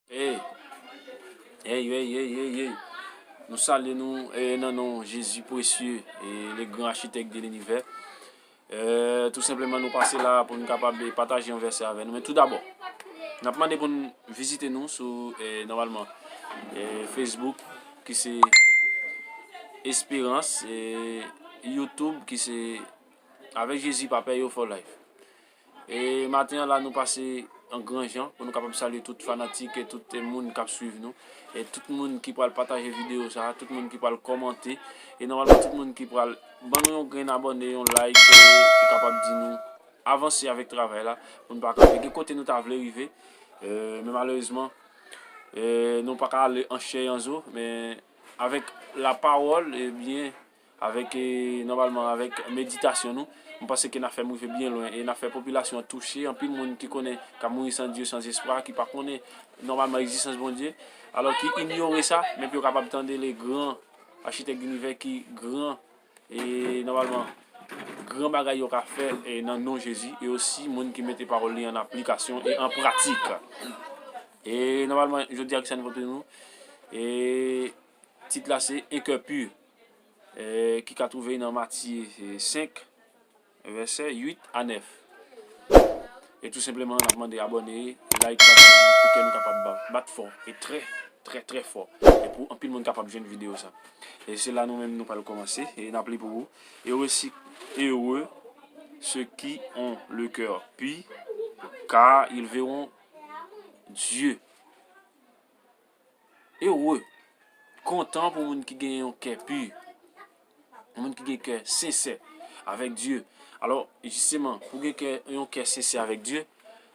Hey Hey hey hey hey hey hey Nou salye nou eh, nan non Jezi presye e le gran achitek de linivè eh, Tou senpleman nou pase la pou nou kapab eh, pataje yon vèsè avè nou Men tou dabò N ap mande pou n vizite nou sou eh, nòmalman eh, Facebook ki se Esperans eh, Youtube ki se Avèk Jezi pa pè yo for life. E maten an la nou pase an gran jan pou nou kapab salye tout fanatik e tout moun k ap swiv nou. E tout moun ki pral pataje videyo sa a, tout moun ki pral kòmante, e nòmalman tout moun ki pral ban nou yon grenn abòne, yon like pou kapab di nou avanse avèk travay la pou nou pa ka gen kote nou ta vle rive. Men malerezman nou pa ka ale an chè e an zo men avèk lapawòl ebyen Avèk nòmalman avèk meditasyon nou, m panse ke n ap fè m rive byen lwen e n ap fè popilasyon an touche, anpil moun ki konnen k ap mouri san Dye, san espwa, ki pa konnen nòmalman egzistans Bondye, alò ki inyore sa, men pou yo kapab tande le gran Architect de l'univers ki gran e nòmalman gran bagay yo ka fè e nan non Jezi e osi moun ki mete pawòl li an aplikasyon e an pratik. E nòmalman jodi a kisa nou pote nou? E tit la se Un cœur pur. ki ka twouve nan Matye 5, vèsè 8 a 9. E tou senpleman n ap mande abòne, layk, pataje pou kè nou kapab bat fò e trè, trè, trè fò e pou anpil moun kapab jwenn videyo sa. E se la nou menm nou pral kòmanse e n ap li pou ou, Ere si ere se ki on le kè pi, ka il veron Dye. Ere, kontan pou moun ki gen yon kè pu, yon moun ki gen kè sensè avèk Dye. Alò, jisteman, pou gen kè, yon kè sensè avèk Dye,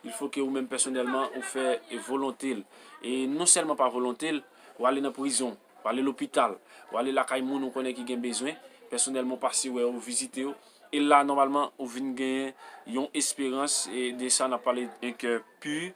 il fo ke ou menm pèsonèlman ou fè volonte l. E non sèlman pa volonte l, ou ale nan prizon, ou ale lopital, ou ale lakay moun ou konnen ki gen bezwen, pèsonèlman ou pase wè yo, ou vizite yo. E la nòmalman ou vin genyen yon esperans e de sa n ap pale un cœur pur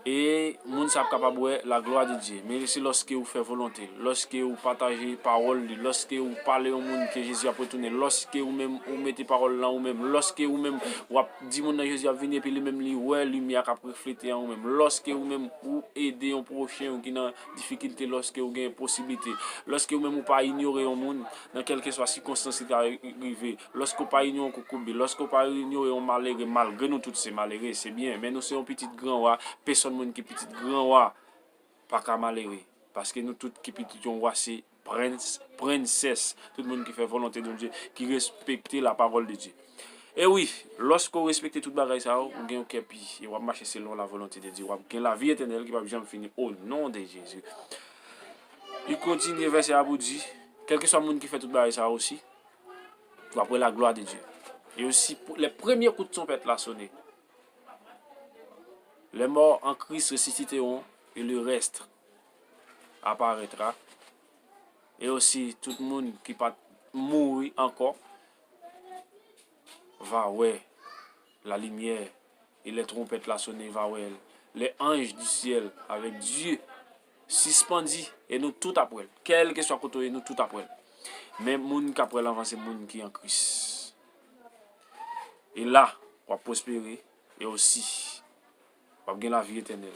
e moun sa ap kapab wè la glwa de Dye. Men se lòske ou fè volonte l, lòske ou pataje pawòl li, lòske ou pale yon moun ke Jezi ap retounen, lòske ou menm ou mete pawòl nan ou menm, lòske ou menm ou ap di moun nan Jezi ap vini epi li menm li wè limyè a k ap reflete an ou menm, lòske ou menm ou ede yon pwochen ou ki nan difikilte lòske ou gen posiblite, lòske ou menm ou pa inyore yon moun. nan kèlkeswa sikonstans li ta rive, lòske ou pa inyore kokobe, lòske ou pa inyore yon malere, malgre nou tout se malere, se byen, men nou se yon pitit gran wa, pesòn moun ki pitit gran wa pa ka malere, paske nou tout ki pitit yon wa se prens, prensès, tout moun ki fè volonte Bondye, ki respekte lapawòl de Dye. E wi, lòske ou respekte tout bagay sa yo, ou gen yon kè pi, e w ap mache selon lavolonte de Dye, w ap gen lavi etènèl ki p ap janm fini, onon de Jezi. Li kontinye vèsè a pou di, Kèlkeswa moun ki fè tout bagay sa yo osi, w ap wè laglwa de Dye. E osi, lè premye kout twonpèt la sone, lèmò an Kris resisiteront, e lerèst aparètra, e osi, tout moun ki pa t mouri ankò va wè lalimyè, e lè twonpèt la sone, va wè lè anj di syèl avèk Dye. Sispandi e nou tout ap wèl. Kèlkeswa kote ou ye nou tout ap wèl. Men moun kap wèl anvan se moun ki an Kris. E la wap pwospere e osi wap gen lavi etènèl.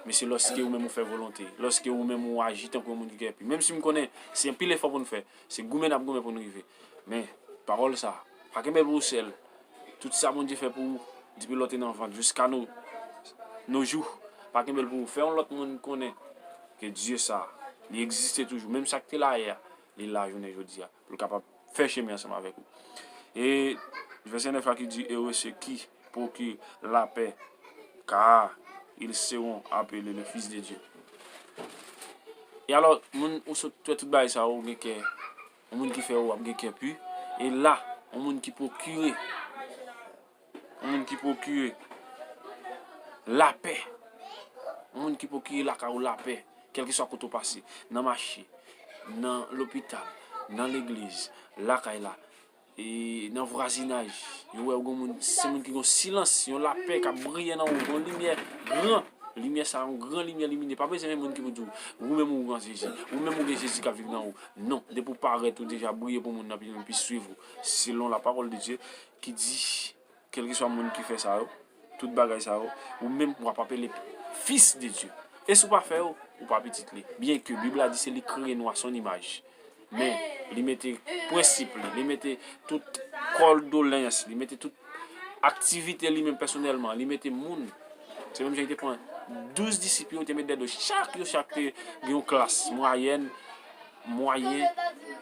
Men se lòske ou menm ou fè volonte, lòske ou menm ou aji tankou yon moun ki gen pi. Menm si m konnen se anpil efò pou nou fè, se goumen nap goumen pou nou rive. Men pawòl sa, pa kenbe l pou ou sèl. Tout sa Bondye fè pou ou depi lè w te nan vant jiska no nos jours pa kenbe l pou ou fè yon lòt moun konnen ke Dye sa li egziste toujou menm sa k te la yè a li la jounen jodi a pou l kapab fè chemen ansanm avèk ou e vèsè 9 la ki di ere se ki proki lapè kaa il seron apele le fis de Dye e alò moun ou sot wè tout bagay sa ou gen kè. Yon moun ki fè ou ap gen kè pu. E la, yon moun ki pwokire. Yon moun ki pwokire. Lapè. Yon moun ki pwokire lakay ou lapè. Kèlke swa kote ou pase. Nan mache. Nan lopital. Nan legliz. Lakay la. E nan vwazinaj. Yo wè ou gen moun. Se yon moun ki gen silans. Yon lapè kap briye nan ou. Yon limyè gran. Limyè sa yon gran limyè limine. Pa bezwen yon moun ki pou di ou. Ou menm ou gen Jezi. Ou menm ou gen Jezi kap viv nan ou. Non, depi ou parèt, ou deja briye pou moun nan pi vin pi swiv ou, selon la parole de Dieu ki di, kelkeswa moun ki fè sa yo, tout bagay sa yo, ou menm wap apele fils de Dieu. E si ou pa fè yo, ou pa pitit li. Byen ke Bib la di se li ki kreye nou a son imaj. Men, li mete prensip li, li mete tout kòl dolens, li mete tout aktivite li menm pèsonèlman, li mete moun. Se menm jan li te pran douz disip yo, li te met dèyè do chak, yo chak te gen yon klas, mwayèn, mwayen,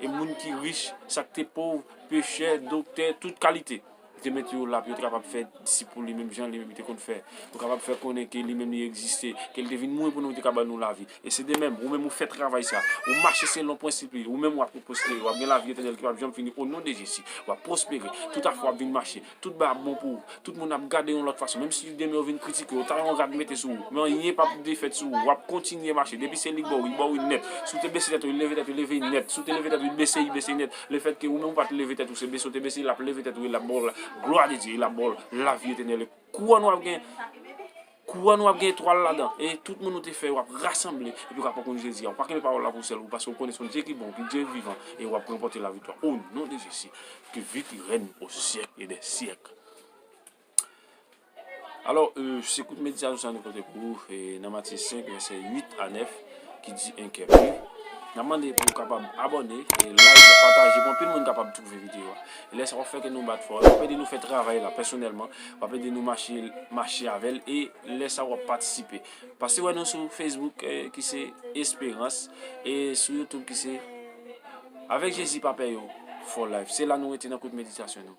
e moun ki rich, sa k te pov, pechè, doktè, tout kalite. Li te met yo la pou yo te kapab fè disip pou li menm jan li menm li te konn fè. Pou yo kapab fè konnen ke li menm li egziste, ke li te vin mouri pou nou, li te ka ban nou lavi. E se de menm, ou menm ou fè travay sa, ou mache selon prensip li, ou menm w ap pwospere, w ap gen lavi etènèl ki p ap janm fini onon de Jezi. W ap pwospere, tout afè w ap vin mache. Tout bagay ap bon pou ou. Tout moun ap gade w yon lòt fason. Menm si demen yo vin kritike w, yo ta yon rad mete sou ou, men anyen pap defèt sou ou. Wap kontinye mache. Depi se li bo w, li bo w wi nèt. Si w te bese tèt ou, li leve tèt li leve li nèt. Si w te leve tèt ou, li bese li bese nèt. Lefètke ou menm ou pa te leve tèt ou, se bese w te bese, lap leve tèt ou e lap ba w la glwa de Dye, e lap ba w lavi etènèl. Kouwòn wap gen. Kou an nou ap gen etwal ladan e tout moun ou te fè yo ap rasanble epi w ap pran koup Jezi a. Ou pa kenbe pawòl la pou sèl ou paske ou konnen se yon Dye ki bon, ki Dye vivan e ou ap ranpòte laviktwa o non de Jezi ke viv li rèn o syèk e dè syèk. Alò, se kout meditayon sa nou pote pou ou nan Matye 5 vèsè 8 a 9. ki di 1 kè pri Nap mande pou ou kapab abòne e like e pataje pou anpil moun kapab twouve videyo a e lè sa wap fè kè nou bat fò e wap ede nou fè travay la pèsonèlman wap ede nou mache mache avèl e lè sa wap patisipe pase wè nou sou Facebook ki se esperans e sou YouTube ki se avèk jezi pa pè yo for life se la nou rete nan kout meditasyon nou.